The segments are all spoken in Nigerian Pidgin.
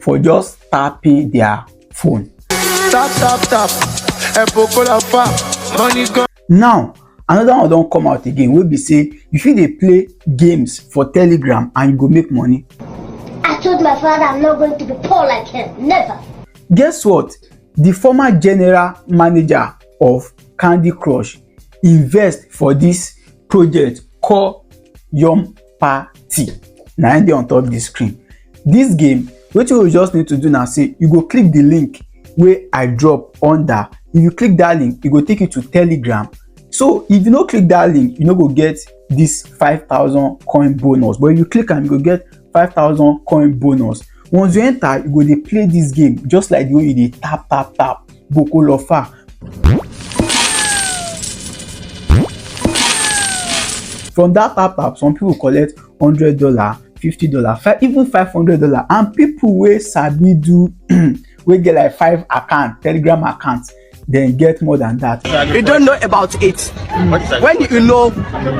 for just tapping their phone. Tap, tap, tap. Epokola fa. Money gone. Now, another one don come out again wey be say you fit dey play games for telegram and you go make money. I told my father I'm not going to be poor like him. Never. Guess what? The former general manager of Candy Crush invest for this project called Yum party na im dey on top the screen this game wetin you just need to do na say you go click the link wey i drop under if you click that link e go take you to telegram so if you no click that link you no go get this five thousand coin bonus but if you click am you go get five thousand coin bonus once you enter you go dey play this game just like the way you dey tap tap tap gbò kó lọ fà. from that tap tap some people collect hundred dollar fifty dollar five even five hundred dollar and people wey sabi do wey get like five account telegram account then get more than that. you don't know about it mm. when you know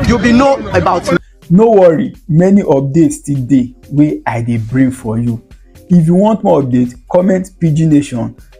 you be know about it. no worry many updates still dey wey i dey bring for you if you want more update comment pidgin nation